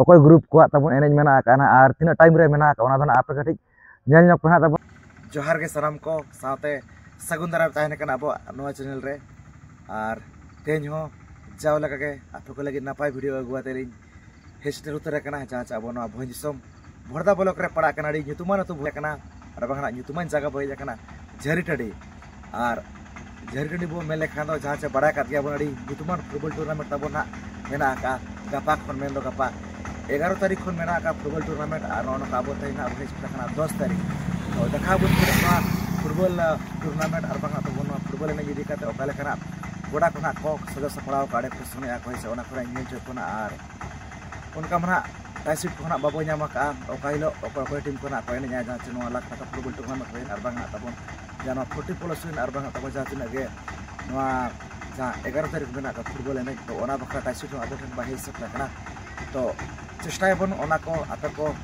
ᱚᱠᱚᱭ ᱜᱨᱩᱯ ᱠᱚᱣᱟᱜ ᱛᱟᱵᱚᱱ ᱮᱱᱮᱡ ᱢᱮᱱᱟᱜ ᱟᱠᱟᱫᱼᱟ ᱱᱟᱦᱟᱜ ᱟᱨ ᱛᱤᱱᱟᱹᱜ ᱴᱟᱭᱤᱢ ᱨᱮ ᱢᱮᱱᱟᱜ ᱟᱠᱟᱫᱼᱟ ᱚᱱᱟ ᱫᱚ ᱱᱟᱦᱟᱜ ᱟᱯᱮ ᱠᱟᱹᱴᱤᱡ ᱧᱮᱞ ᱧᱚᱜ ᱯᱮ ᱱᱟᱦᱟᱜ ᱛᱟᱵᱚᱱ ᱡᱚᱦᱟᱨ ᱜᱮ ᱥᱟᱱᱟᱢ ᱠᱚ ᱥᱟᱶᱛᱮ ᱥᱟᱹᱜᱩᱱ ᱫᱟᱨᱟᱢ ᱛᱟᱦᱮᱱ ᱠᱟᱱᱟ ᱟᱵᱚᱣᱟᱜ ᱱᱚᱣᱟ ᱪᱮᱱᱮᱞ ᱨᱮ ᱟᱨ ᱛᱮᱦᱮᱧ ᱦᱚᱸ ᱡᱟᱣ ᱞᱮᱠᱟᱜᱮ ᱟᱯᱮ ᱠᱚ ᱞᱟᱹᱜᱤᱫ ᱱᱟᱯᱟᱭ ᱵᱷᱤᱰᱤᱭᱳ ᱟᱹᱜᱩ ᱠᱟᱛᱮ ᱞᱤᱧ ᱦᱮᱡ ᱥᱮᱴᱮᱨ ᱩᱛᱟᱹᱨ ᱟᱠᱟᱱᱟ ᱡᱟᱦᱟᱸ ᱪᱮ ᱟᱵᱚ ᱱᱚᱣᱟ ᱵᱷᱚᱸᱡᱽ ᱫᱤᱥᱚᱢ ᱵᱷᱚᱲᱫᱟ ᱵᱞᱚᱠ ᱨᱮ ᱯᱟᱲᱟᱜ ᱠᱟᱱᱟ ᱟᱹᱰᱤ ᱧᱩᱛᱩᱢᱟᱱ ᱟᱹᱛᱩ ᱵᱚᱞᱮ ᱠᱟᱱᱟ ᱟᱨ ᱵᱟᱝᱠᱷᱟᱱ ᱧᱩᱛᱩᱢᱟᱱ ᱡᱟᱭᱜᱟ ᱵᱚᱞᱮ ᱠᱟᱱᱟ ᱡᱷᱟᱹᱨᱤ ᱴᱟᱺᱰᱤ ᱟᱨ ᱡᱷᱟᱹᱨᱤ ᱴᱟᱺᱰᱤ ᱵᱚ ᱢᱮᱱ ᱞᱮᱠᱷᱟᱱ ᱫᱚ ᱡᱟᱦᱟᱸ ᱪᱮ ᱵᱟᱲᱟᱭ ᱠᱟᱫ ᱜᱮᱭᱟ ᱵᱚᱱ ᱟᱹᱰᱤ ᱧᱩᱛᱩᱢᱟᱱ ᱯᱷᱩᱴᱵᱚᱞ ᱴᱩᱨᱱᱟᱢᱮᱱᱴ ᱛᱟᱵᱚᱱ ᱦᱟᱸᱜ ᱢᱮᱱᱟᱜ ᱟᱠᱟᱫᱼᱟ ᱜᱟᱯᱟ ᱠᱷᱚᱱ ᱢᱮᱱ ᱫᱚ ᱜᱟᱯᱟ ᱮᱜᱟᱨᱚ ᱛᱟᱹᱨᱤᱠᱷ ᱠᱷᱚᱱ ᱢᱮᱱᱟᱜ ᱟᱠᱟᱫ ᱯᱷᱩᱴᱵᱚᱞ ᱴᱩᱨᱱᱟᱢᱮᱱᱴ ᱟᱨ ᱱᱚᱜᱼᱚ ᱱᱚᱝᱠᱟ ᱟᱵᱚ ᱛᱮᱦᱮᱧ ᱦᱟᱸᱜ ᱵᱚᱱ ᱦᱮᱡ ᱥᱮᱴᱮᱨ ᱠᱟᱱᱟ ᱫᱚᱥ ᱛᱟᱹᱨᱤᱠᱷ ᱛᱚ ᱫᱮᱠᱷᱟᱣ ᱵᱚᱱ ᱠᱟᱱᱟ ᱱᱚᱣᱟ ᱯᱷᱩᱴᱵᱚᱞ ᱴᱩᱨᱱᱟᱢᱮᱱᱴ ᱟᱨ ᱵᱟᱝ ᱛᱟᱵᱚᱱ ᱱᱚᱣᱟ ᱯᱷᱩᱴᱵᱚᱞ ᱮᱱᱮᱡ ᱤᱫᱤ ᱠᱟᱛᱮ ᱚᱠᱟ ᱞᱮᱠᱟᱱᱟᱜ ᱜᱚᱰᱟ ᱠᱚ ᱦᱟᱸᱜ ᱠᱚ ᱥᱟᱡᱟᱣ ᱥᱟᱯᱲᱟᱣ ᱟᱠᱟᱫᱼᱟ ᱚᱸᱰᱮ ᱠᱚ ᱥᱮᱱᱚᱜ ᱟᱠᱚ ᱦᱮᱸ ᱥᱮ ᱚᱱᱟ ᱠᱚᱨᱮ ᱧᱮᱞ ᱦᱚᱪᱚᱭᱮᱫ ᱵᱚᱱᱟ ᱟᱨ ᱚᱱᱠᱟ ᱢᱟ ᱱᱟᱦᱟᱜ ᱯᱨᱟᱭᱤᱡᱽ ᱥᱤᱴ ᱠᱚᱦᱚᱸ ᱱᱟᱦᱟᱜ ᱵᱟᱵᱚ ᱧᱟᱢ ᱟᱠᱟᱫᱼᱟ ᱚᱠᱟ ᱦᱤᱞᱳᱜ ᱚᱠᱚᱭ ᱚᱠᱚᱭ ᱴᱤᱢ ᱠᱚ ᱱᱟᱦᱟᱜ ᱠᱚ ᱮᱱᱮᱡᱼᱟ ᱡᱟᱦᱟᱸ ᱪᱮ ᱱᱚᱣᱟ ᱞᱟᱠᱷ ᱴᱟᱠᱟ ᱯᱷᱩᱴᱵᱚᱞ ᱴᱩᱨᱱᱟᱢᱮᱱᱴ ᱨᱮ ᱟᱨ ᱵᱟᱝ ᱱᱟᱦᱟᱜ ᱛᱟᱵᱚᱱ ᱡᱟᱦᱟᱸ ᱱᱚᱣᱟ ᱯᱷᱳᱨᱴᱤ ᱯᱞᱟᱥ ᱨᱮᱱ ᱟᱨ ᱵᱟᱝ ᱛᱟᱵᱚᱱ ᱡᱟᱦᱟᱸ ᱛᱤᱱᱟᱹᱜ ᱜᱮ ᱱᱚᱣᱟ ᱡᱟᱦᱟᱸ ᱮᱜᱟᱨᱚ ᱛᱟᱹᱨᱤᱠᱷ ᱢᱮᱱᱟᱜ ᱟᱠᱟᱫ ᱯᱷᱩᱴᱵᱚᱞ ᱮᱱᱮᱡ ᱛᱚ ᱚᱱᱟ ᱵᱟᱠᱷᱨᱟ ᱯᱨᱟᱭᱤᱡᱽ ᱥᱤᱴ ᱦᱚᱸ ᱟᱵᱚ ᱴᱷᱮᱱ ᱵᱟᱭ ᱦᱮᱡ ᱥᱟᱹᱛ ᱟᱠᱟᱱᱟ ᱛᱚ ᱪᱮᱥᱴᱟᱭᱟᱵᱚᱱ ᱚᱱᱟ ᱠᱚ ᱟᱯᱮ ᱠᱚ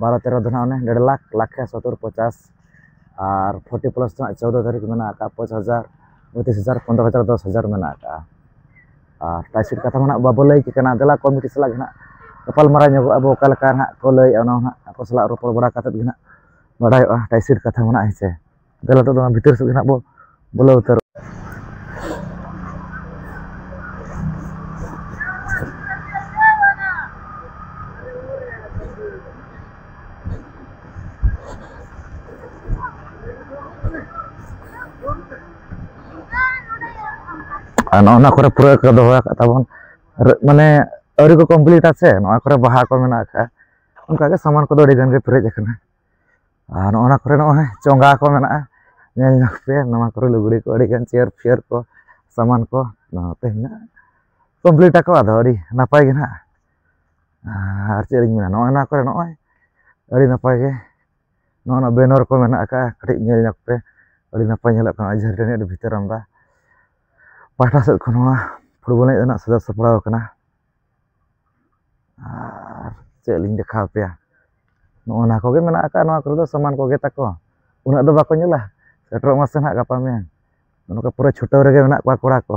ᱵᱟᱨᱚ ᱛᱮᱨᱚ ᱫᱚ ᱱᱟᱦᱟᱜ ᱚᱱᱮ ᱰᱮᱲ ᱞᱟᱠᱷ ᱞᱟᱠᱷ ᱠᱮ ᱥᱚᱛᱛᱳᱨ ᱯᱚᱪᱟᱥ ᱟᱨ ᱯᱷᱳᱨᱴᱤ ᱯᱞᱟᱥ ᱫᱚ ᱱᱟᱦᱟᱜ ᱪᱳᱫᱽᱫᱳ ᱫᱷᱟᱹᱨᱤᱡ ᱢᱮᱱᱟᱜ ᱟᱠᱟᱫᱼᱟ ᱯᱟᱸᱪ ᱦᱟᱡᱟᱨ ᱯᱚᱸᱪᱤᱥ ᱦᱟᱡᱟᱨ ᱯᱚᱸᱫᱽᱨᱚ ᱦᱟᱡᱟᱨ ᱫᱚᱥ ᱦᱟᱡᱟᱨ ᱢᱮᱱᱟᱜ ᱟᱠᱟᱫᱼᱟ ᱟᱨ ᱴᱟᱭ ᱥᱤᱴ ᱠᱟᱛᱷᱟ ᱢᱟ ᱱᱟᱦᱟᱜ ᱵᱟᱵᱚ ᱞᱟᱹᱭ ᱠᱮᱫ ᱠᱟᱱᱟ ᱫᱮᱞᱟ ᱠᱚᱢᱤᱴᱤ ᱥᱟᱞᱟᱜ ᱜᱮ ᱱᱟᱦᱟᱜ ᱜᱟᱯᱟᱞᱢᱟᱨᱟᱣ ᱧᱚᱜᱚᱜ ᱟᱵᱚ ᱚᱠᱟ ᱞᱮᱠᱟ ᱱᱟᱦᱟᱜ ᱠᱚ ᱞᱟᱹᱭᱮᱫᱼᱟ ᱚᱱᱟ ᱦᱚᱸ ᱱᱟᱦᱟᱜ ᱟᱠᱚ ᱥᱟᱞᱟᱜ ᱨᱚᱯᱚᱲ ᱵᱟᱲᱟ ᱠᱟᱛᱮᱫ ᱜᱮ ᱱᱟᱦᱟᱜ ᱵᱟᱰᱟᱭᱚᱜᱼᱟ ᱴᱟᱭ ᱥᱤᱴ ᱠᱟᱛᱷᱟ ᱢᱟ ᱱᱟᱦᱟᱜ ᱦᱮᱸ ᱥᱮ ᱫᱮᱞᱟ ᱱᱤᱛᱚᱜ ᱫᱚ ᱚᱱᱟ ᱵᱷᱤᱛᱟᱹᱨ ᱥᱮᱫ ᱜᱮ ᱱᱟᱦᱟᱜ ᱵᱚ ᱵᱚᱞᱚ ᱩᱛᱟᱹᱨᱚᱜᱼᱟ ᱟᱨ ᱱᱚᱜᱼᱚ ᱱᱚᱣᱟ ᱠᱚᱨᱮ ᱯᱩᱨᱟᱹ ᱠᱚ ᱫᱚᱦᱚ ᱟᱠᱟᱫ ᱛᱟᱵᱚᱱ ᱢᱟᱱᱮ ᱟᱹᱣᱨᱤ ᱠᱚ ᱠᱚᱢᱯᱞᱤᱴᱟ ᱥᱮ ᱱᱚᱣᱟ ᱠᱚᱨᱮ ᱵᱟᱦᱟ ᱠᱚ ᱢᱮᱱᱟᱜ ᱟᱠᱟᱫᱼᱟ ᱚᱱᱠᱟᱜᱮ ᱥᱟᱢᱟᱱ ᱠᱚᱫᱚ ᱟᱹᱰᱤᱜᱟᱱ ᱜᱮ ᱯᱮᱨᱮᱡ ᱟᱠᱟᱱᱟ ᱟᱨ ᱱᱚᱜᱼᱚ ᱱᱟ ᱠᱚᱨᱮ ᱱᱚᱜᱼᱚᱭ ᱪᱚᱸᱜᱟ ᱠᱚ ᱢᱮᱱᱟᱜᱼᱟ ᱧᱮᱞ ᱧᱚᱜᱽ ᱯᱮ ᱱᱚᱣᱟ ᱠᱚᱨᱮ ᱞᱩᱜᱽᱲᱤ ᱠᱚ ᱟᱹᱰᱤ ᱜᱟᱱ ᱪᱮᱭᱟᱨ ᱯᱷᱮᱭᱟᱨ ᱠᱚ ᱥᱟᱢᱟᱱ ᱠᱚ ᱱᱚᱣᱟ ᱛᱮ ᱦᱮᱱᱟᱜᱼᱟ ᱠᱚᱢᱯᱞᱤᱴ ᱟᱠᱚ ᱟᱫᱚ ᱟᱹᱰᱤ ᱱᱟᱯᱟᱭ ᱜᱮ ᱱᱟᱦᱟᱜ ᱟᱨ ᱪᱮᱫ ᱞᱤᱧ ᱢᱮᱱᱟ ᱱᱚᱜᱼᱚᱭ ᱱᱚᱣᱟ ᱠᱚᱨᱮ ᱱᱚᱜᱼᱚᱭ ᱟᱹᱰᱤ ᱱᱟᱯᱟᱭ ᱜᱮ ᱱᱚᱜᱼᱚ ᱱᱟ ᱵᱮᱱᱚᱨ ᱠᱚ ᱢᱮᱱᱟᱜ ᱟᱠᱟᱫᱼᱟ ᱠᱟᱹᱴᱤᱡ ᱧᱮᱞ ᱧᱚᱜᱽ ᱯᱮ ᱟᱹᱰᱤ ᱱᱟᱯᱟᱭ ᱧᱮᱞᱚᱜ ᱠᱟᱱᱟ ᱡᱷᱟᱹᱨᱤ ᱴᱟᱺᱰᱤ ᱟᱹᱰᱤ ᱵᱷᱤᱛᱟᱹᱨ ᱟᱢᱫᱟ ᱯᱟᱦᱴᱟ ᱥᱮᱫ ᱠᱷᱚᱱ ᱱᱚᱣᱟ ᱯᱷᱩᱴᱵᱚᱞ ᱮᱱᱮᱡ ᱨᱮᱱᱟᱜ ᱥᱟᱡᱟᱣ ᱥᱟᱯᱲᱟᱣ ᱠᱟᱱᱟ ᱟᱨ ᱪᱮᱫ ᱞᱤᱧ ᱫᱮᱠᱷᱟᱣ ᱟᱯᱮᱭᱟ ᱱᱚᱜᱼᱚ ᱱᱟ ᱠᱚᱜᱮ ᱢᱮᱱᱟᱜ ᱟᱠᱟᱫᱼᱟ ᱱᱚᱣᱟ ᱠᱚᱨᱮ ᱫᱚ ᱥᱟᱢᱟᱱ ᱠᱚᱜᱮ ᱛᱟᱠᱚ ᱩᱱᱟᱹᱜ ᱫᱚ ᱵᱟᱠᱚ ᱧᱮᱞᱟ ᱥᱮᱴᱮᱨᱚᱜ ᱢᱟᱥᱮ ᱱᱟᱦᱟᱜ ᱜᱟᱯᱟ ᱢᱮᱭᱟᱝ ᱱᱚᱝᱠᱟ ᱯᱩᱨᱟᱹ ᱪᱷᱩᱴᱟᱹᱣ ᱨᱮᱜᱮ ᱢᱮᱱᱟᱜ ᱠᱚᱣᱟ ᱠᱚᱲᱟ ᱠᱚ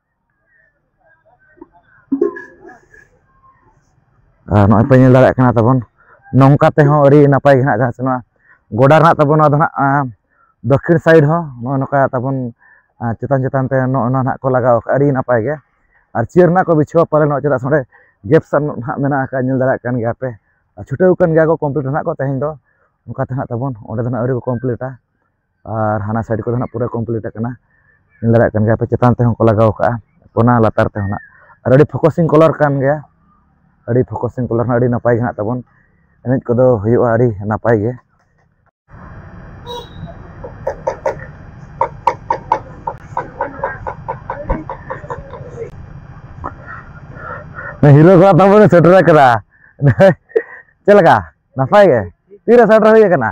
ᱟᱨ ᱱᱚᱜᱼᱚᱭ ᱯᱮ ᱧᱮᱞ ᱫᱟᱲᱮᱭᱟᱜ ᱠᱟᱱᱟ ᱛᱟᱵᱚᱱ ᱱᱚᱝᱠᱟ ᱛᱮᱦᱚᱸ ᱟᱹᱰᱤ ᱱᱟᱯᱟᱭ ᱜᱮ ᱦᱟᱸᱜ ᱡᱟᱦᱟᱸ ᱥᱮ ᱱᱚᱣᱟ ᱜᱚᱰᱟ ᱨᱮᱱᱟᱜ ᱛᱟᱵᱚᱱ ᱱᱚᱣᱟ ᱫᱚ ᱦᱟᱸᱜ ᱫᱚᱠᱠᱷᱤᱱ ᱥᱟᱭᱤᱰ ᱦᱚᱸ ᱱᱚᱜᱼᱚ ᱱᱚᱝᱠᱟ ᱛᱟᱵᱚᱱ ᱪᱮᱛᱟᱱ ᱪᱮᱛᱟᱱ ᱛᱮ ᱱᱚᱜᱼᱚ ᱱᱚᱣᱟ ᱦᱟᱸᱜ ᱠᱚ ᱞᱟᱜᱟᱣ ᱟᱠᱟᱫ ᱟᱹᱰᱤ ᱱᱟᱯᱟᱭ ᱜᱮ ᱟᱨ ᱪᱤᱭᱟᱹᱨ ᱨᱮᱱᱟᱜ ᱠᱚ ᱵᱤᱪᱷᱟᱹᱣᱟ ᱯᱟᱞᱮ ᱱᱚᱜᱼᱚᱭ ᱪᱮᱫᱟᱜ ᱥᱮ ᱱᱚᱸᱰᱮ ᱜᱮᱯ ᱥᱟᱱ ᱦᱟᱸᱜ ᱢᱮᱱᱟᱜ ᱟᱠᱟᱫ ᱧᱮᱞ ᱫᱟᱲᱮᱭᱟᱜ ᱠᱟᱱ ᱜᱮᱭᱟ ᱯᱮ ᱪᱷᱩᱴᱟᱹᱣ ᱟᱠᱟᱱ ᱜᱮᱭᱟ ᱠᱚ ᱠᱚᱢᱯᱞᱤᱴ ᱦᱟᱸᱜ ᱠᱚ ᱛᱮᱦᱮᱧ ᱫᱚ ᱚᱱᱠᱟ ᱛᱮ ᱦᱟᱸᱜ ᱛᱟᱵᱚᱱ ᱚᱸᱰᱮ ᱫᱚ ᱦᱟᱸᱜ ᱟᱹᱣᱨᱤ ᱠᱚ ᱠᱚᱢᱯᱞᱤᱴᱟ ᱟᱨ ᱦᱟᱱᱟ ᱥᱟᱭᱤᱰ ᱠᱚᱫᱚ ᱱᱟᱦᱟᱜ ᱯᱩᱨᱟᱹ ᱠᱚᱢᱯᱞᱤᱴ ᱟᱠᱟᱱᱟ ᱧᱮᱞ ᱫᱟᱲᱮᱭᱟᱜ ᱠᱟᱱ ᱜᱮᱭᱟᱯᱮ ᱪᱮᱛᱟᱱ ᱛᱮᱦᱚᱸ ᱠᱚ ᱞᱟᱜᱟᱣ ᱠᱟᱜᱼᱟ ᱚᱱᱟ ᱞᱟᱛᱟᱨ ᱛᱮᱦᱚᱸ ᱱᱟᱦᱟᱜ ᱟᱨ ᱟᱹᱰᱤ ᱯᱷᱳᱠᱚᱥᱤᱝ ᱠᱟᱞᱟᱨ ᱠᱟᱱ ᱜᱮᱭᱟ ᱟᱹᱰᱤ ᱯᱷᱳᱠᱚᱥᱤᱝ ᱠᱟᱞᱟᱨ ᱦᱚᱸ ᱟᱹᱰᱤ ᱱᱟᱯᱟᱭ ᱜᱮ ᱱᱟᱦᱟᱜ ᱛᱟᱵᱚᱱ ᱮᱱᱮᱡ ᱠᱚᱫᱚ ᱦᱩᱭᱩᱜᱼᱟ ᱟᱹᱰᱤ ᱱᱟᱯᱟᱭ ᱜᱮ ᱦᱤᱨᱳ ᱠᱚᱲᱟ ᱛᱟᱵᱚᱱ ᱵᱚᱱ ᱥᱮᱴᱮᱨ ᱟᱠᱟᱫᱟ ᱪᱮᱫ ᱞᱮᱠᱟ ᱱᱟᱯᱟᱭ ᱜᱮ ᱛᱤᱨᱮ ᱥᱮᱴᱮᱨ ᱦᱩᱭ ᱟᱠᱟᱱᱟ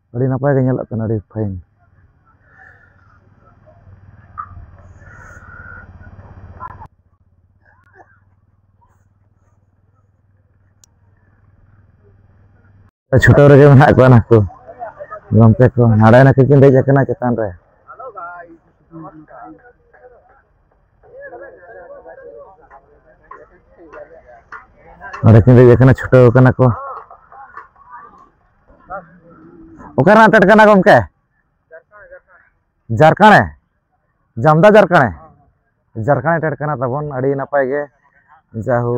ᱟᱹᱰᱤ ᱱᱟᱯᱟᱭ ᱜᱮ ᱧᱮᱞᱚᱜ ᱠᱟᱱᱟ ᱟᱹᱰᱤ ᱯᱷᱟᱭᱤᱱ ᱪᱷᱩᱴᱟᱹᱣ ᱨᱮᱜᱮ ᱢᱮᱱᱟᱜ ᱠᱚᱣᱟ ᱱᱟᱠᱚ ᱜᱚᱢᱠᱮ ᱠᱚ ᱱᱟᱰᱮ ᱱᱟᱠᱚ ᱠᱤᱱ ᱫᱮᱡ ᱟᱠᱟᱱᱟ ᱪᱮᱛᱟᱱ ᱨᱮ ᱱᱚᱰᱮ ᱠᱤᱱ ᱫᱮᱡ ᱟᱠᱟᱱᱟ ᱪᱷᱩᱴᱟᱹᱣ ᱟᱠᱟᱱᱟ ᱠᱚ ᱚᱠᱟ ᱨᱮᱱᱟᱜ ᱴᱮᱴ ᱠᱟᱱᱟ ᱜᱚᱢᱠᱮ ᱡᱟᱨᱠᱟᱬᱮ ᱡᱟᱢᱫᱟ ᱡᱟᱨᱠᱟᱬᱮ ᱡᱟᱨᱠᱟᱬᱮ ᱴᱮᱴ ᱠᱟᱱᱟ ᱛᱟᱵᱚᱱ ᱟᱹᱰᱤ ᱱᱟᱯᱟᱭ ᱜᱮ ᱡᱟᱦᱩ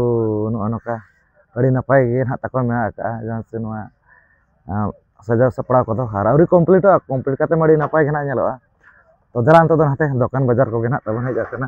ᱱᱚᱜᱼᱚ ᱱᱚᱝᱠᱟ ᱟᱹᱰᱤ ᱱᱟᱯᱟᱭ ᱜᱮ ᱱᱟᱦᱟᱜ ᱛᱟᱠᱚ ᱢᱮᱱᱟᱜ ᱟᱠᱟᱫᱼᱟ ᱡᱟᱦᱟᱸ ᱥᱮ ᱱᱚᱣᱟ ᱥᱟᱡᱟᱣ ᱥᱟᱯᱲᱟᱣ ᱠᱚᱫᱚ ᱟᱨ ᱟᱹᱣᱨᱤ ᱠᱚᱢᱯᱞᱤᱴᱚᱜᱼᱟ ᱠᱚᱢᱯᱞᱤᱴ ᱠᱟᱛᱮ ᱢᱟ ᱟᱹᱰᱤ ᱱᱟᱯᱟᱭ ᱜᱮ ᱱᱟᱦᱟᱜ ᱧᱮᱞᱚᱜᱼᱟ ᱛᱚ ᱫᱮᱞᱟ ᱱᱤᱛᱚᱜ ᱫᱚ ᱱᱟᱛᱮ ᱫᱚᱠᱟᱱ ᱵᱟᱡᱟᱨ ᱠᱚᱜᱮ ᱱᱟᱦᱟᱜ ᱛᱟᱵᱚᱱ ᱦᱮᱡ ᱟᱠᱟᱱᱟ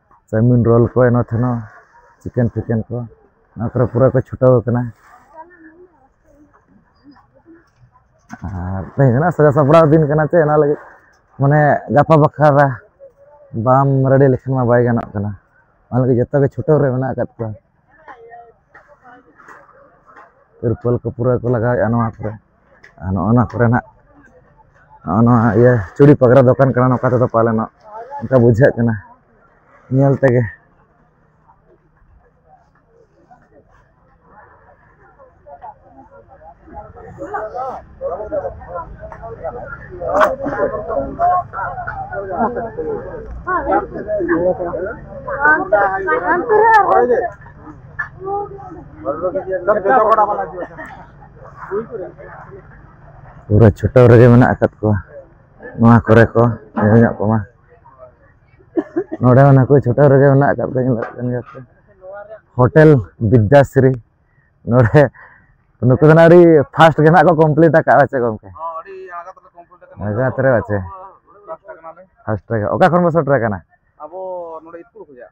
ᱪᱟᱣᱢᱤᱱ ᱨᱳᱞ ᱠᱚ ᱮᱱᱚ ᱛᱷᱮᱱᱚ ᱪᱤᱠᱮᱱ ᱯᱷᱤᱠᱮᱱ ᱠᱚ ᱱᱚᱣᱟ ᱠᱚᱨᱮ ᱯᱩᱨᱟᱹ ᱠᱚ ᱪᱷᱩᱴᱟᱹᱣ ᱟᱠᱟᱱᱟ ᱟᱨ ᱛᱮᱦᱮᱧ ᱨᱮᱱᱟᱜ ᱥᱟᱡᱟᱣ ᱥᱟᱯᱲᱟᱣ ᱫᱤᱱ ᱠᱟᱱᱟ ᱪᱮ ᱚᱱᱟ ᱞᱟᱹᱜᱤᱫ ᱢᱟᱱᱮ ᱜᱟᱯᱟ ᱵᱟᱠᱷᱨᱟ ᱵᱟᱢ ᱨᱮᱰᱤ ᱞᱮᱠᱷᱟᱱ ᱢᱟ ᱵᱟᱭ ᱜᱟᱱᱚᱜ ᱠᱟᱱᱟ ᱚᱱᱟ ᱞᱟᱹᱜᱤᱫ ᱡᱚᱛᱚ ᱜᱮ ᱪᱷᱩᱴᱟᱹᱣ ᱨᱮ ᱢᱮᱱᱟᱜ ᱟᱠᱟᱫ ᱠᱚᱣᱟ ᱛᱤᱨᱯᱚᱞ ᱠᱚ ᱯᱩᱨᱟᱹ ᱠᱚ ᱞᱟᱜᱟᱣᱮᱫᱼᱟ ᱱᱚᱣᱟ ᱠᱚᱨᱮ ᱟᱨ ᱱᱚᱜᱼᱚ ᱱᱚᱣᱟ ᱠᱚᱨᱮᱱᱟᱜ ᱱᱚᱜᱼᱚ ᱱᱚᱣᱟ ᱤᱭᱟᱹ ᱪᱩᱲᱤ ᱯᱟᱜᱽᱨᱟ ᱫᱚᱠᱟᱱ ᱠᱟᱱᱟ ᱱᱚᱝᱠᱟ ᱛᱮᱫᱚ ᱯᱟᱞᱮᱱᱚᱜ ᱚᱱᱠᱟ ᱵᱩᱡᱷᱟᱹᱜ ᱠᱟᱱᱟ ᱧᱮᱞ ᱛᱮᱜᱮ ᱯᱩᱨᱟᱹ ᱪᱷᱩᱴᱟᱹᱣ ᱨᱮᱜᱮ ᱢᱮᱱᱟᱜ ᱟᱠᱟᱫ ᱠᱚᱣᱟ ᱱᱚᱣᱟ ᱠᱚᱨᱮ ᱠᱚ ᱧᱮᱞ ᱧᱚᱜ ᱠᱚᱢᱟ ᱱᱚᱰᱮ ᱦᱚᱸ ᱱᱟᱠᱚ ᱪᱷᱩᱴᱟᱹᱣ ᱨᱮᱜᱮ ᱢᱮᱱᱟᱜ ᱟᱠᱟᱫ ᱠᱚᱣᱟ ᱧᱮᱞᱚᱜ ᱠᱟᱱ ᱜᱮᱭᱟ ᱠᱚ ᱦᱳᱴᱮᱞ ᱵᱤᱫᱽᱫᱟᱥᱨᱤ ᱱᱚᱰᱮ ᱱᱩᱠᱩ ᱫᱚ ᱟᱹᱰᱤ ᱯᱷᱟᱥᱴ ᱜᱮ ᱱᱟᱜ ᱠᱚ ᱠᱚᱢᱯᱞᱤᱴ ᱟᱠᱟᱫ ᱵᱟᱪᱮ ᱜᱚᱢᱠᱮ ᱟᱡᱟᱛ ᱨᱮ ᱵᱟᱪᱮ ᱯᱷᱟᱥᱴ ᱴᱨᱟᱠ ᱚᱠᱟ ᱠᱷᱚᱱ ᱵᱚ ᱥᱮᱴᱮᱨ ᱟᱠᱟᱱᱟ ᱟᱵᱚ ᱱᱚᱰᱮ ᱤᱥᱠᱩᱞ ᱠᱷᱚᱱᱟᱜ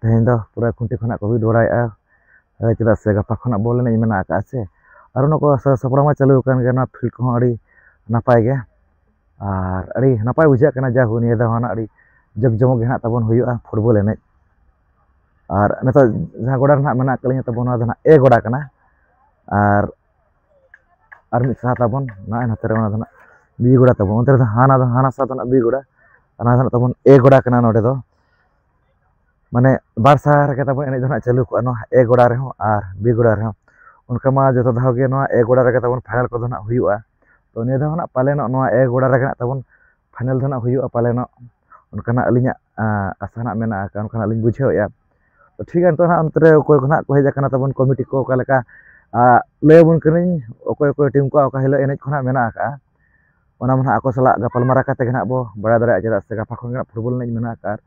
ᱛᱮᱦᱮᱧ ᱫᱚ ᱯᱩᱨᱟᱹ ᱠᱷᱩᱱᱴᱤ ᱠᱷᱚᱱᱟᱜ ᱠᱚ ᱵᱤᱫ ᱵᱟᱲᱟᱭᱮᱜᱼᱟ ᱪᱮᱫᱟᱜ ᱥᱮ ᱜᱟᱯᱟ ᱠᱷᱚᱱᱟᱜ ᱵᱚᱞ ᱮᱱᱮᱡ ᱢᱮᱱᱟᱜ ᱟᱠᱟᱜᱼᱟ ᱥᱮ ᱟᱨ ᱚᱱᱟ ᱠᱚ ᱥᱟᱹᱛ ᱥᱟᱯᱲᱟᱣ ᱢᱟ ᱪᱟᱹᱞᱩ ᱟᱠᱟᱱ ᱜᱮᱭᱟ ᱚᱱᱟ ᱯᱷᱤᱞᱰ ᱠᱚᱦᱚᱸ ᱟᱹᱰᱤ ᱱᱟᱯᱟᱭ ᱜᱮᱭᱟ ᱟᱨ ᱟᱹᱰᱤ ᱱᱟᱯᱟᱭ ᱵᱩᱡᱷᱟᱹᱜ ᱠᱟᱱᱟ ᱡᱟᱭᱦᱳᱠ ᱱᱤᱭᱟᱹ ᱫᱷᱟᱣ ᱦᱚᱸ ᱟᱹᱰᱤ ᱡᱟᱠ ᱡᱚᱢᱚᱠ ᱜᱮ ᱦᱟᱸᱜ ᱛᱟᱵᱚᱱ ᱦᱩᱭᱩᱜᱼᱟ ᱯᱷᱩᱴᱵᱚᱞ ᱮᱱᱮᱡ ᱟᱨ ᱱᱤᱛᱚᱜ ᱡᱟᱦᱟᱸ ᱜᱚᱰᱟ ᱨᱮ ᱦᱟᱸᱜ ᱢᱮᱱᱟᱜ ᱟᱠᱟᱫ ᱞᱤᱧᱟ ᱛᱟᱵᱚᱱ ᱱᱚᱣᱟ ᱫᱚ ᱦᱟᱸᱜ ᱮ ᱜᱚᱰᱟ ᱠᱟᱱᱟ ᱟᱨ ᱟᱨ ᱢᱤᱫ ᱥᱟᱦᱟ ᱛᱟᱵᱚᱱ ᱱᱚᱜᱼᱚᱭ ᱱᱚᱛᱮ ᱨᱮ ᱚᱱᱟ ᱫᱚ ᱦᱟᱸᱜ ᱵᱤ ᱜᱚᱰᱟ ᱛᱟᱵᱚᱱ ᱚᱱᱛᱮ ᱨᱮᱫᱚ ᱦᱟᱱᱟ ᱫᱚ ᱦᱟᱱᱟ ᱥᱟᱦᱟ ᱫᱚ ᱦᱟᱸᱜ ᱵᱤ ᱜᱚᱰᱟ ᱚᱱᱟ ᱫᱚ ᱦᱟᱸᱜ ᱛᱟᱵᱚᱱ ᱮ ᱜᱚᱰᱟ ᱠᱟᱱᱟ ᱱᱚᱰᱮ ᱫᱚ ᱢᱟᱱᱮ ᱵᱟᱨ ᱥᱟᱦᱟ ᱨᱮᱜᱮ ᱛᱟᱵᱚᱱ ᱮᱱᱮᱡ ᱫᱚ ᱦᱟᱸᱜ ᱪᱟᱹᱞᱩ ᱠᱚᱜᱼᱟ ᱱᱚᱣᱟ ᱮ ᱜᱚᱰᱟ ᱨᱮᱦᱚᱸ ᱟᱨ ᱵᱤ ᱜᱚᱰᱟ ᱨᱮᱦᱚᱸ ᱚᱱᱠᱟ ᱢᱟ ᱡᱚᱛᱚ ᱫᱷᱟᱣ ᱜᱮ ᱱᱚᱣᱟ ᱮ ᱜᱚᱰᱟ ᱨᱮᱜᱮ ᱛᱟᱵᱚᱱ ᱯᱷᱟᱭᱱᱮᱞ ᱠᱚᱫᱚ ᱦᱟᱸᱜ ᱦᱩᱭᱩᱜᱼᱟ ᱛᱚ ᱱᱤᱭᱟᱹ ᱫᱷᱟᱣ ᱦᱟᱸᱜ ᱯᱟᱞᱮᱱᱚᱜ ᱱᱚᱣᱟ ᱮ ᱜᱚᱰᱟ ᱨᱮᱜᱮ ᱦᱟᱸᱜ ᱛᱟᱵᱚᱱ ᱯᱷᱟᱭᱱᱮᱞ ᱫᱚ ᱦᱟᱸᱜ ᱦᱩᱭᱩᱜᱼᱟ ᱯᱟᱞᱮᱱᱚᱜ ᱚᱱᱠᱟᱱᱟᱜ ᱟᱹᱞᱤᱧᱟᱜ ᱟᱥᱟ ᱦᱟᱸᱜ ᱢᱮᱱᱟᱜᱼᱟ ᱠᱟᱨᱚᱱ ᱚᱱᱠᱟᱱᱟᱜ ᱞᱤᱧ ᱵᱩᱡᱷᱟᱹᱣᱮᱜᱼᱟ ᱛᱚ ᱴᱷᱤᱠ ᱜᱮᱭᱟ ᱱᱤᱛᱚᱜ ᱦᱟᱸᱜ ᱚᱱᱛᱮ ᱨᱮ ᱚᱠᱚᱭ ᱠᱚ ᱦᱟᱸᱜ ᱠᱚ ᱦᱮᱡ ᱠᱟᱱᱟ ᱛᱟᱵᱚᱱ ᱠᱚᱢᱤᱴᱤ ᱠᱚ ᱚᱠᱟ ᱞᱮᱠᱟ ᱞᱟᱹᱭ ᱟᱵᱚᱱ ᱠᱟᱹᱱᱟᱹᱧ ᱚᱠᱚᱭ ᱚᱠᱚᱭ ᱴᱤᱢ ᱠᱚᱣᱟᱜ ᱚᱠᱟ ᱦᱤᱞᱳᱜ ᱮᱱᱮᱡ ᱠᱚ ᱦᱟᱸᱜ ᱢᱮᱱᱟᱜ ᱠᱟᱜᱼᱟ ᱚᱱᱟ ᱢᱟ ᱦᱟᱸᱜ ᱟᱠᱚ ᱥᱟᱞᱟᱜ ᱜᱟᱯᱟᱞᱢᱟᱨᱟᱣ ᱠᱟᱛᱮ ᱜᱮ ᱦᱟᱸᱜ ᱵᱚ ᱵᱟᱲᱟᱭ ᱫᱟᱲᱮᱭᱟᱜᱼᱟ ᱪᱮᱫᱟᱜ ᱥᱮ ᱜᱟᱯᱟ ᱠᱷᱚᱱ ᱜᱮ ᱦᱟᱸᱜ ᱯᱷᱩᱴᱵᱚᱞ ᱮᱱᱮᱡ ᱢᱮᱱᱟᱜ ᱟᱠᱟᱫᱼᱟ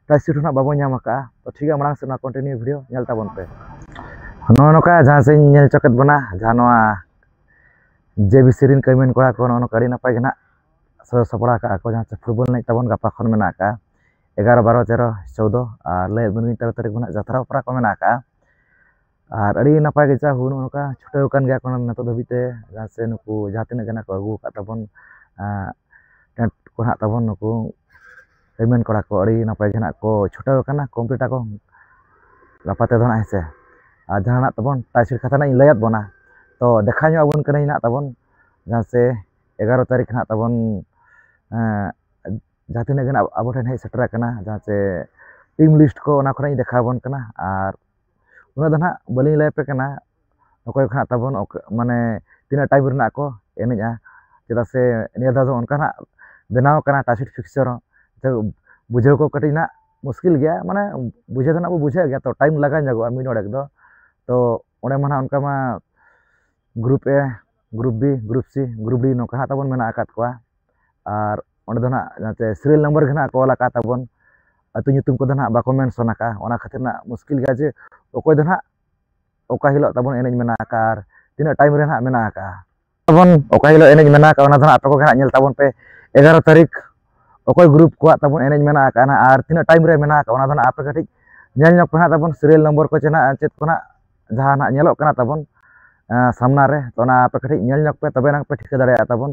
ᱯᱨᱟᱭᱤᱡᱽ ᱥᱤᱴ ᱦᱚᱸ ᱦᱟᱸᱜ ᱵᱟᱵᱚ ᱧᱟᱢ ᱟᱠᱟᱫᱼᱟ ᱛᱚ ᱴᱷᱤᱠ ᱜᱮᱭᱟ ᱢᱟᱲᱟᱝ ᱥᱮᱫ ᱱᱚᱣᱟ ᱠᱚᱱᱴᱤᱱᱤᱭᱩ ᱵᱷᱤᱰᱤᱭᱳ ᱧᱮᱞ ᱛᱟᱵᱚᱱ ᱯᱮ ᱱᱚᱜᱼᱚ ᱱᱚᱝᱠᱟ ᱡᱟᱦᱟᱸ ᱥᱮᱫ ᱤᱧ ᱧᱮᱞ ᱦᱚᱪᱚ ᱠᱮᱫ ᱵᱚᱱᱟ ᱡᱟᱦᱟᱸ ᱱᱚᱣᱟ ᱡᱮ ᱵᱤ ᱥᱤ ᱨᱮᱱ ᱠᱟᱹᱢᱤᱭᱟᱱ ᱠᱚᱲᱟ ᱠᱚ ᱱᱚᱜᱼᱚ ᱱᱚᱝᱠᱟ ᱟᱹᱰᱤ ᱱᱟᱯᱟᱭ ᱜᱮ ᱦᱟᱸᱜ ᱥᱟᱡᱟᱣ ᱥᱟᱯᱲᱟᱣ ᱠᱟᱜᱼᱟ ᱠᱚ ᱡᱟᱦᱟᱸ ᱥᱮ ᱯᱷᱩᱴᱵᱚᱞ ᱮᱱᱮᱡ ᱛᱟᱵᱚᱱ ᱜᱟᱯᱟ ᱠᱷᱚᱱ ᱢᱮᱱᱟᱜ ᱟᱠᱟᱫᱼᱟ ᱮᱜᱟᱨᱚ ᱵᱟᱨᱚ ᱛᱮᱨᱚ ᱪᱳᱫᱽᱫᱚ ᱟᱨ ᱞᱟᱹᱭ ᱟᱹᱜᱩ ᱟᱹᱞᱤᱧ ᱛᱮᱨᱚ ᱛᱟᱹᱨᱤᱠᱷ ᱠᱷᱚᱱᱟᱜ ᱡᱟᱛᱨᱟ ᱚᱯᱮᱨᱟ ᱠᱚ ᱢᱮᱱᱟᱜ ᱟᱠᱟᱫᱼᱟ ᱟᱨ ᱟᱹᱰᱤ ᱱᱟᱯᱟᱭ ᱜᱮ ᱡᱟ ᱦᱩᱭ ᱱᱚᱜᱼᱚ ᱱᱚᱝᱠᱟ ᱪᱷᱩᱴᱟᱹᱣ ᱠᱟᱱ ᱜᱮᱭᱟ ᱠᱚ ᱱᱤᱛᱚᱜ ᱫᱷᱟᱹᱵᱤᱡ ᱛᱮ ᱡᱟᱦᱟᱸ ᱥᱮ ᱱᱩᱠᱩ ᱡᱟᱦᱟᱸ ᱛᱤᱱᱟᱹᱜ ᱜᱮ ᱱᱟᱜ ᱠᱚ ᱟᱹᱜᱩ ᱟᱠᱟᱫ ᱛᱟᱵᱚᱱ ᱴᱮᱱᱴ ᱠᱚ ᱱᱟᱜ ᱛᱟᱵᱚᱱ ᱱᱩᱠᱩ ᱨᱤᱢᱤᱱ ᱠᱚᱲᱟ ᱠᱚ ᱟᱹᱰᱤ ᱱᱟᱯᱟᱭ ᱜᱮ ᱱᱟᱜ ᱠᱚ ᱪᱷᱩᱴᱟᱹᱣ ᱠᱟᱱᱟ ᱠᱚᱢᱯᱞᱤᱴ ᱟᱠᱚ ᱜᱟᱯᱟ ᱛᱮᱫᱚ ᱱᱟᱜ ᱦᱮᱸ ᱥᱮ ᱟᱨ ᱡᱟᱦᱟᱸ ᱱᱟᱜ ᱛᱟᱵᱚᱱ ᱴᱟᱭᱥᱤᱞ ᱠᱟᱛᱷᱟ ᱱᱟᱜ ᱤᱧ ᱞᱟᱹᱭᱟᱫ ᱵᱚᱱᱟ ᱛᱚ ᱫᱮᱠᱷᱟᱣ ᱧᱚᱜ ᱟᱵᱚᱱ ᱠᱟᱹᱱᱟᱹᱧ ᱱᱟᱜ ᱛᱟᱵᱚᱱ ᱡᱟᱦᱟᱸ ᱥᱮ ᱮᱜᱟᱨᱚ ᱛᱟᱹᱨᱤᱠᱷ ᱱᱟᱜ ᱛᱟᱵᱚᱱ ᱡᱟᱦᱟᱸ ᱛᱤᱱᱟᱹᱜ ᱜᱮ ᱱᱟᱜ ᱟᱵᱚ ᱴᱷᱮᱱ ᱦᱮᱡ ᱥᱮᱴᱮᱨ ᱟᱠᱟᱱᱟ ᱡᱟᱦᱟᱸ ᱥᱮ ᱴᱤᱢ ᱞᱤᱥᱴ ᱠᱚ ᱚᱱᱟ ᱠᱚ ᱱᱟᱜ ᱤᱧ ᱫᱮᱠᱷᱟᱣ ᱟᱵᱚᱱ ᱠᱟᱱᱟ ᱟᱨ ᱩᱱᱟᱹᱜ ᱫᱚ ᱱᱟᱦᱟᱜ ᱵᱟᱹᱞᱤᱧ ᱞᱟᱹᱭ ᱟᱯᱮ ᱠᱟᱱᱟ ᱚᱠᱚᱭ ᱠᱚ ᱱᱟᱦᱟᱜ ᱛᱟᱵᱚᱱ ᱢᱟᱱᱮ ᱛᱤᱱᱟᱹᱜ ᱴᱟᱭᱤᱢ ᱨᱮᱱᱟᱜ ᱠᱚ ᱮᱱᱮᱡᱼᱟ ᱪᱮᱫᱟᱜ ᱥᱮ ᱱᱤᱭᱟᱹ ᱫᱷᱟᱣ ᱫᱚ ᱚᱱᱠᱟ ᱱᱟᱦᱟᱜ ᱵᱮᱱᱟᱣ ᱠᱟᱱᱟ ᱴᱟᱨᱜᱮᱴ ᱯᱷᱤᱠᱥᱪᱟᱨ ᱦᱚᱸ ᱛᱚ ᱵᱩᱡᱷᱟᱹᱣ ᱠᱚ ᱠᱟᱹᱴᱤᱡ ᱱᱟᱦᱟᱜ ᱢᱩᱥᱠᱤᱞ ᱜᱮᱭᱟ ᱢᱟᱱᱮ ᱵᱩᱡᱷᱟᱹᱣ ᱫᱚ ᱱᱟᱦᱟᱜ ᱵᱚᱱ ᱵᱩᱡᱷᱟᱹᱣ ᱜᱮᱭᱟ ᱛᱚ ᱴᱟᱭᱤᱢ ᱞᱟᱜᱟᱣ ᱧᱚᱜᱚᱜᱼᱟ ᱢᱤᱫ ᱰᱚᱸᱰᱮᱠ ᱫᱚ ᱛᱚ ᱚᱸᱰᱮ ᱢᱟ ᱱᱟᱦᱟᱜ ᱚᱱᱠᱟ ᱢᱟ group A group B group C group D ᱱᱚᱝᱠᱟ ᱦᱟᱸᱜ ᱛᱟᱵᱚᱱ ᱢᱮᱱᱟᱜ ᱟᱠᱟᱫ ᱠᱚᱣᱟ ᱟᱨ ᱚᱸᱰᱮ ᱫᱚ ᱱᱟᱜ ᱡᱟᱛᱮ ᱥᱤᱨᱤᱭᱟᱞ ᱱᱟᱢᱵᱟᱨ ᱜᱮ ᱱᱟᱜ ᱠᱚ ᱚᱞ ᱟᱠᱟᱫ ᱛᱟᱵᱚᱱ ᱟᱹᱛᱩ ᱧᱩᱛᱩᱢ ᱠᱚᱫᱚ ᱱᱟᱜ ᱵᱟᱠᱚ ᱢᱮᱱᱥᱚᱱ ᱟᱠᱟᱫᱼᱟ ᱚᱱᱟ ᱠᱷᱟᱹᱛᱤᱨ ᱱᱟᱜ ᱢᱩᱥᱠᱤᱞ ᱜᱮᱭᱟ ᱡᱮ ᱚᱠᱚᱭ ᱫᱚ ᱱᱟᱜ ᱚᱠᱟ ᱦᱤᱞᱳᱜ ᱛᱟᱵᱚᱱ ᱮᱱᱮᱡ ᱢᱮᱱᱟᱜ ᱟᱠᱟᱫᱼᱟ ᱟᱨ ᱛᱤᱱᱟᱹᱜ ᱴᱟᱭᱤᱢ ᱨᱮ ᱱᱟᱜ ᱢᱮᱱᱟᱜ ᱟᱠᱟᱫᱼᱟ ᱛᱟᱵᱚᱱ ᱚᱠᱟ ᱦᱤᱞᱳᱜ ᱮᱱᱮᱡ ᱢᱮᱱᱟᱜ ᱟᱠᱟᱫᱼᱟ ᱚᱱᱟ ᱫᱚ ᱱᱟᱜ ᱟᱯᱮ ᱠᱚᱜᱮ ᱱᱟᱜ ᱧᱮᱞ ᱛᱟᱵᱚᱱ ᱯᱮ ᱮᱜᱟᱨᱚ ᱛᱟᱹᱨᱤᱠᱷ ᱚᱠᱚᱭ ᱜᱨᱩᱯ ᱠᱚᱣᱟᱜ ᱛᱟᱵᱚᱱ ᱮᱱᱮᱡ ᱢᱮᱱᱟᱜ ᱟᱠᱟᱫᱼᱟ ᱱᱟᱜ ᱟᱨ ᱛᱤᱱᱟᱹᱜ ᱴᱟᱭᱤᱢ ᱨᱮ ᱢᱮᱱᱟᱜ ᱟᱠᱟᱫᱼᱟ ᱚᱱᱟ ᱫᱚ ᱱᱟᱜ ᱟᱯᱮ ᱠᱟᱹᱴᱤᱡ ᱧᱮᱞ ᱧᱚᱜᱽ ᱯᱮ ᱱᱟᱜ ᱛᱟᱵᱚᱱ ᱥᱤᱨᱤᱭᱟᱞ ᱱᱚᱢᱵᱚᱨ ᱠᱚ ᱪᱮ ᱱᱟᱜ ᱪᱮᱫ ᱠᱚ ᱱᱟᱜ ᱡᱟᱦᱟᱸ ᱱᱟᱦᱟᱜ ᱧᱮᱞᱚᱜ ᱠᱟᱱᱟ ᱛᱟᱵᱚᱱ ᱥᱟᱢᱱᱟ ᱨᱮ ᱛᱚ ᱚᱱᱟ ᱟᱯᱮ ᱠᱟᱹᱴᱤᱡ ᱧᱮᱞ ᱧᱚᱜ ᱯᱮ ᱛᱚᱵᱮ ᱱᱟᱝ ᱯᱮ ᱴᱷᱤᱠᱟᱹ ᱫᱟᱲᱮᱭᱟᱜᱼᱟ ᱛᱟᱵᱚᱱ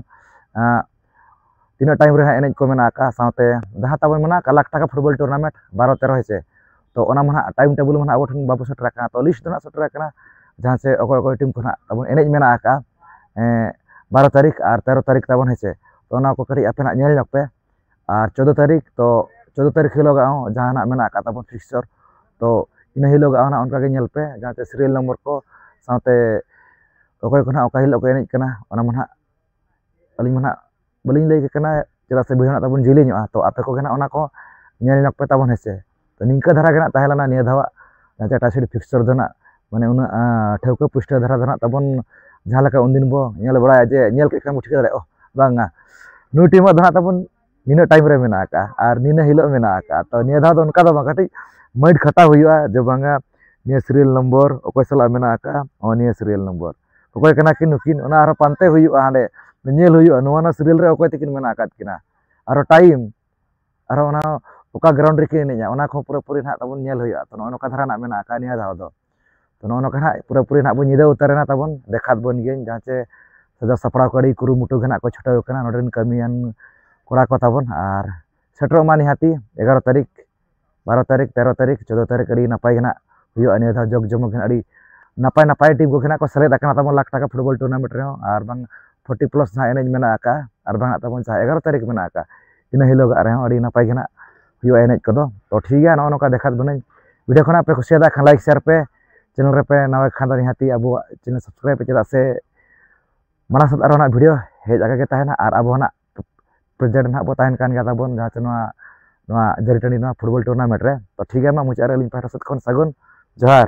ᱛᱤᱱᱟᱹᱜ ᱴᱟᱭᱤᱢ ᱨᱮ ᱦᱟᱸᱜ ᱮᱱᱮᱡ ᱠᱚ ᱢᱮᱱᱟᱜ ᱟᱠᱟᱫᱼᱟ ᱥᱟᱶᱛᱮ ᱡᱟᱦᱟᱸ ᱛᱟᱵᱚᱱ ᱢᱮᱱᱟᱜ ᱟᱠᱟᱫ ᱞᱟᱠᱷ ᱴᱟᱠᱟ ᱯᱷᱩᱴᱵᱚᱞ ᱴᱩᱨᱱᱟᱢᱮᱱᱴ ᱵᱟᱨᱚ ᱛᱮᱨᱚ ᱦᱮᱸ ᱥᱮ ᱛᱚ ᱚᱱᱟ ᱢᱟ ᱦᱟᱸᱜ ᱴᱟᱭᱤᱢ ᱴᱮᱵᱤᱞ ᱢᱟ ᱦᱟᱸᱜ ᱟᱵᱚ ᱴᱷᱮᱱ ᱵᱟᱵᱚ ᱥᱮᱴᱮᱨ ᱟᱠᱟᱱᱟ ᱛᱚ ᱞᱤᱥᱴ ᱫᱚ ᱦᱟᱸᱜ ᱥᱮᱴᱮᱨ ᱟᱠᱟᱱᱟ ᱡᱟᱦᱟᱸ ᱥᱮ ᱚᱠᱚᱭ ᱚᱠᱚᱭ ᱴᱤᱢ ᱠᱚ ᱦᱟᱸᱜ ᱛᱟᱵᱚᱱ ᱮᱱᱮᱡ ᱢᱮᱱᱟᱜ ᱟᱠᱟᱫᱼᱟ ᱵᱟᱨᱚ ᱛᱟᱹᱨᱤᱠᱷ ᱟᱨ ᱛᱮᱨᱚ ᱛᱟᱹᱨᱤᱠᱷ ᱛᱟᱵᱚᱱ ᱦᱮᱸ ᱥᱮ ᱛᱚ ᱚᱱᱟ ᱠᱚ ᱠᱟᱹᱴᱤᱡ ᱟᱯᱮ ᱦᱟᱸᱜ ᱧᱮᱞ ᱧᱚᱜᱽ ᱯᱮ ᱟᱨ ᱪᱳᱫᱽᱫᱳ ᱛᱟᱹᱨᱤᱠᱷ ᱛᱚ ᱪᱳᱫᱽᱫᱳ ᱛᱟᱹᱨᱤᱠᱷ ᱦᱤᱞᱳᱜ ᱟᱜ ᱦᱚᱸ ᱡᱟᱦᱟᱱᱟᱜ ᱢᱮᱱᱟᱜ ᱟᱠᱟᱫ ᱛᱟᱵᱚᱱ ᱯᱷᱤᱠᱥᱪᱟᱨ ᱛᱚ ᱤᱱᱟᱹ ᱦᱤᱞᱳᱜ ᱟᱜ ᱦᱚᱸ ᱚᱱᱠᱟ ᱜᱮ ᱧᱮᱞ ᱯᱮ ᱡᱟᱦᱟᱸ ᱛᱮ ᱥᱤᱨᱤᱭᱟᱞ ᱱᱚᱢᱵᱚᱨ ᱠᱚ ᱥᱟᱶᱛᱮ ᱚᱠᱚᱭ ᱠᱚ ᱦᱟᱸᱜ ᱚᱠᱟ ᱦᱤᱞᱳᱜ ᱠᱚ ᱮᱱᱮᱡ ᱠᱟᱱᱟ ᱚᱱᱟ ᱢᱟ ᱦᱟᱸᱜ ᱟᱹᱞᱤᱧ ᱢᱟ ᱦᱟᱸᱜ ᱵᱟᱹᱞᱤᱧ ᱞᱟᱹᱭ ᱟᱯᱮ ᱠᱟᱱᱟ ᱪᱮᱫᱟᱜ ᱥᱮ ᱵᱷᱤᱰᱤᱭᱳ ᱦᱟᱸᱜ ᱛᱟᱵᱚᱱ ᱡᱤᱞᱤᱧᱚᱜᱼᱟ ᱛᱚ ᱟᱯᱮ ᱠᱚᱜᱮ ᱦᱟᱸᱜ ᱚᱱᱟ ᱠᱚ ᱧᱮᱞ ᱧᱚᱜᱽ ᱯᱮ ᱛᱟᱵᱚᱱ ᱦᱮᱸ ᱥᱮ ᱛᱚ ᱱᱤᱝᱠᱟᱹ ᱫᱷᱟᱨᱟ ᱜᱮ ᱱᱟᱜ ᱛᱟᱦᱮᱸ ᱞᱮᱱᱟ ᱱᱤᱭᱟᱹ ᱫᱷᱟᱣᱟᱜ ᱴᱟᱴᱟ ᱥᱤᱴᱤ ᱯᱷᱤᱠᱥᱪᱟᱨ ᱫᱚ ᱱᱟᱜ ᱢᱟᱱᱮ ᱩᱱᱟᱹᱜ ᱴᱷᱟᱹᱣᱠᱟᱹ ᱯᱩᱥᱴᱟᱹᱣ ᱫᱷᱟᱨᱟ ᱫᱚ ᱱᱟᱜ ᱛᱟᱵᱚᱱ ᱡᱟᱦᱟᱸ ᱞᱮᱠᱟ ᱩᱱᱫᱤᱱ ᱵᱚ ᱧᱮᱞ ᱵᱟᱲᱟᱭᱟ ᱡᱮ ᱧᱮᱞ ᱠᱮᱫ ᱠᱷᱟᱱ ᱵᱚ ᱴᱷᱤᱠᱟᱹ ᱫᱟᱲᱮᱭᱟᱜᱼᱟ ᱵᱟᱝᱟ ᱱᱩᱭ ᱴᱤᱢᱟᱜ ᱫᱚ ᱱᱟᱜ ᱛᱟᱵᱚᱱ ᱱᱤᱱᱟᱹᱜ ᱴᱟᱭᱤᱢ ᱨᱮ ᱢᱮᱱᱟᱜ ᱟᱠᱟᱫᱼᱟ ᱟᱨ ᱱᱤᱱᱟᱹ ᱦᱤᱞᱳᱜ ᱢᱮᱱᱟᱜ ᱟᱠᱟᱫᱼᱟ ᱛᱚ ᱱᱤᱭᱟᱹ ᱫᱷᱟᱣ ᱫᱚ ᱚᱱᱠᱟ ᱫᱚ ᱵᱟᱝ ᱠᱟᱹᱴᱤᱡ ᱢᱟᱹᱭᱤᱴ ᱠᱷᱟᱴᱟᱣ ᱦᱩᱭᱩᱜᱼᱟ ᱡᱮ ᱵᱟᱝᱟ ᱱᱤᱭᱟᱹ ᱥᱤᱨᱤᱭᱟᱞ ᱱᱚᱢᱵᱚᱨ ᱚᱠᱚᱭ ᱥᱟᱞᱟᱜ ᱢᱮᱱᱟᱜ ᱟᱠᱟᱫᱼᱟ ᱱᱚᱜᱼᱚ ᱱᱤᱭᱟᱹ ᱥᱤᱨᱤᱭᱟᱞ ᱱᱚᱢᱵᱚᱨ ᱚᱠᱚᱭ ᱠᱟᱱᱟ ᱠᱤᱱ ᱱᱩᱠᱤᱱ ᱚᱱᱟ ᱟᱨᱦᱚᱸ ᱯᱟᱱᱛᱮ ᱦᱩᱭᱩᱜᱼᱟ ᱦᱟᱸᱰᱮ ᱧᱮᱞ ᱦᱩᱭᱩᱜᱼᱟ ᱱᱚᱣᱟ ᱱᱚᱣᱟ ᱥᱤᱨᱤᱭᱟᱞ ᱨᱮ ᱚᱠᱚᱭ ᱛᱟᱹᱠᱤᱱ ᱢᱮᱱᱟᱜ ᱟᱠᱟᱫ ᱠᱤᱱᱟ ᱟᱨᱦᱚᱸ ᱴᱟᱭᱤᱢ ᱟᱨᱦᱚᱸ ᱚᱱᱟ ᱚᱠᱟ ᱜᱨᱟᱣᱩᱱᱰ ᱨᱮᱠᱤᱱ ᱮᱱᱮᱡᱼᱟ ᱚᱱᱟ ᱠᱚᱦᱚᱸ ᱯᱩᱨᱟᱹᱯᱩᱨᱤ ᱱᱟᱦᱟᱜ ᱛᱟᱵᱚᱱ ᱧᱮᱞ ᱦᱩᱭᱩᱜᱼᱟ ᱛᱚ ᱱᱚᱜᱼᱚ ᱱᱚᱝᱠᱟ ᱫᱷᱟᱨᱟ ᱱᱟᱦᱟᱜ ᱢᱮᱱᱟᱜ ᱟᱠᱟᱫᱼᱟ ᱱᱤᱭᱟᱹ ᱫᱷᱟᱣ ᱫᱚ ᱛᱚ ᱱᱚᱜᱼᱚ ᱱᱚᱝᱠᱟ ᱱᱟᱦᱟᱜ ᱯᱩᱨᱟᱹᱯᱩᱨᱤ ᱱᱟᱦᱟᱜ ᱵᱚᱱ ᱧᱤᱫᱟᱹ ᱩᱛᱟᱹᱨᱮᱱᱟ ᱛᱟᱵᱚᱱ ᱫᱮᱠᱷᱟᱣ ᱟᱵᱚᱱ ᱜᱤᱭᱟᱹᱧ ᱡᱟᱦᱟᱸ ᱪᱮ ᱥᱟᱡᱟᱣ ᱥᱟᱯᱲᱟᱣ ᱠᱚ ᱟᱹᱰᱤ ᱠᱩᱨᱩᱢᱩᱴᱩ ᱜᱮ ᱱᱟᱦᱟᱜ ᱠᱚ ᱪᱷᱩᱴᱟᱹᱣ ᱟᱠᱟᱱᱟ ᱱᱚᱰᱮ ᱨᱮᱱ ᱠᱟᱹᱢᱤᱭᱟᱱ ᱠᱚᱲᱟ ᱠᱚ ᱛᱟᱵᱚᱱ ᱟᱨ ᱥᱮᱴᱮᱨᱚᱜ ᱢᱟ ᱱᱤᱦᱟᱹᱛᱤ ᱮᱜᱟᱨᱚ ᱛᱟᱹᱨᱤᱠᱷ ᱵᱟᱨᱚ ᱛᱟᱹᱨᱤᱠᱷ ᱛᱮᱨᱚ ᱛᱟᱹᱨᱤᱠᱷ ᱪᱳᱫᱽᱫᱚ ᱛᱟᱹᱨᱤᱠᱷ ᱟᱹᱰᱤ ᱱᱟᱯᱟᱭ ᱜᱮ ᱱᱟᱦᱟᱜ ᱦᱩᱭᱩᱜᱼᱟ ᱱᱤᱭᱟᱹ ᱫᱷᱟᱣ ᱡᱚᱜᱽ ᱡᱚᱢᱚᱠ ᱜᱮ ᱱᱟᱦᱟᱜ ᱟᱹᱰᱤ ᱱᱟᱯᱟᱭ ᱱᱟᱯᱟᱭ ᱴᱤᱢ ᱠᱚᱜᱮ ᱱᱟᱦᱟᱜ ᱠᱚ ᱥᱮᱞᱮᱫ ᱟᱠᱟᱱᱟ ᱛᱟᱵᱚᱱ ᱞᱟᱠᱷ ᱴᱟᱠᱟ ᱯᱷᱩᱴᱵᱚᱞ ᱴᱩᱨᱱᱟᱢᱮᱱᱴ ᱨᱮᱦᱚᱸ ᱟᱨ ᱵᱟᱝ ᱯᱷᱳᱨᱴᱤ ᱯᱞᱟᱥ ᱱᱟᱦᱟᱜ ᱮᱱᱮᱡ ᱢᱮᱱᱟᱜ ᱟᱠᱟᱫᱼᱟ ᱟᱨ ᱵᱟᱝ ᱱᱟᱦᱟᱜ ᱛᱟᱵᱚᱱ ᱡᱟᱦᱟᱸ ᱮᱜᱟᱨᱚ ᱛᱟᱹᱨᱤᱠᱷ ᱢᱮᱱᱟᱜ ᱟᱠᱟᱫᱼᱟ ᱤᱱᱟᱹ ᱦᱤᱞᱳᱜᱟᱜ ᱨᱮᱦᱚᱸ ᱟᱹᱰᱤ ᱱᱟᱯᱟᱭ ᱜᱮ ᱱᱟᱜ ᱦᱩᱭᱩᱜᱼᱟ ᱮᱱᱮᱡ ᱠᱚᱫᱚ ᱛᱚ ᱴᱷᱤᱠ ᱜᱮᱭᱟ ᱱᱚᱜᱼᱚ ᱱᱚᱝᱠᱟ ᱫᱮᱠᱷᱟᱣ ᱵᱚᱱᱟᱹᱧ ᱵᱷᱤᱰᱤᱭᱳ ᱠᱷᱚᱱᱟᱜ ᱯᱮ ᱠᱩᱥᱤᱭᱟᱫᱟ ᱠᱷᱟᱱ ᱞᱟᱭᱤᱠ ᱥᱮᱭᱟᱨ ᱯᱮ ᱪᱮᱱᱮᱞ ᱨᱮᱯᱮ ᱱᱟᱣᱟ ᱠᱷᱟᱱ ᱫᱚ ᱱᱤᱦᱟᱹᱛᱤ ᱟᱵᱚᱣᱟᱜ ᱪᱮᱱᱮᱞ ᱥᱟᱵᱥᱠᱨᱟᱭᱤᱵ ᱯᱮ ᱪᱮᱫᱟᱜ ᱥᱮ ᱢᱟᱲᱟᱝ ᱥᱮᱫ ᱟᱨᱚ ᱱᱟᱜ ᱵᱷᱤᱰᱤᱭᱳ ᱦᱮᱡ ᱟᱠᱟ ᱜᱮ ᱛᱟᱦᱮᱱᱟ ᱟᱨ ᱟᱵᱚ ᱱᱟᱜ ᱯᱨᱮᱡᱮᱱᱴ ᱱᱟᱜ ᱵᱚ ᱛᱟᱦᱮᱱ ᱠᱟᱱ ᱜᱮᱭᱟ ᱛᱟᱵᱚᱱ ᱡᱟᱦᱟᱸ ᱛᱮ ᱱᱚᱣᱟ ᱱᱚᱣᱟ ᱡᱟᱹᱨᱤ ᱴᱟᱺᱰᱤ ᱱᱚᱣᱟ ᱯᱷᱩᱴᱵᱚᱞ ᱴᱩᱨᱱᱟᱢᱮᱱᱴ ᱨᱮ ᱛᱚ ᱴᱷᱤᱠ ᱜᱮᱭᱟ ᱢᱟ ᱢᱩᱪᱟᱹᱫ ᱨᱮ ᱟᱹᱞᱤᱧ ᱯᱟᱦᱴᱟ ᱥᱮᱫ ᱠᱷᱚᱱ ᱥᱟᱹᱜᱩᱱ ᱡᱚᱦᱟᱨ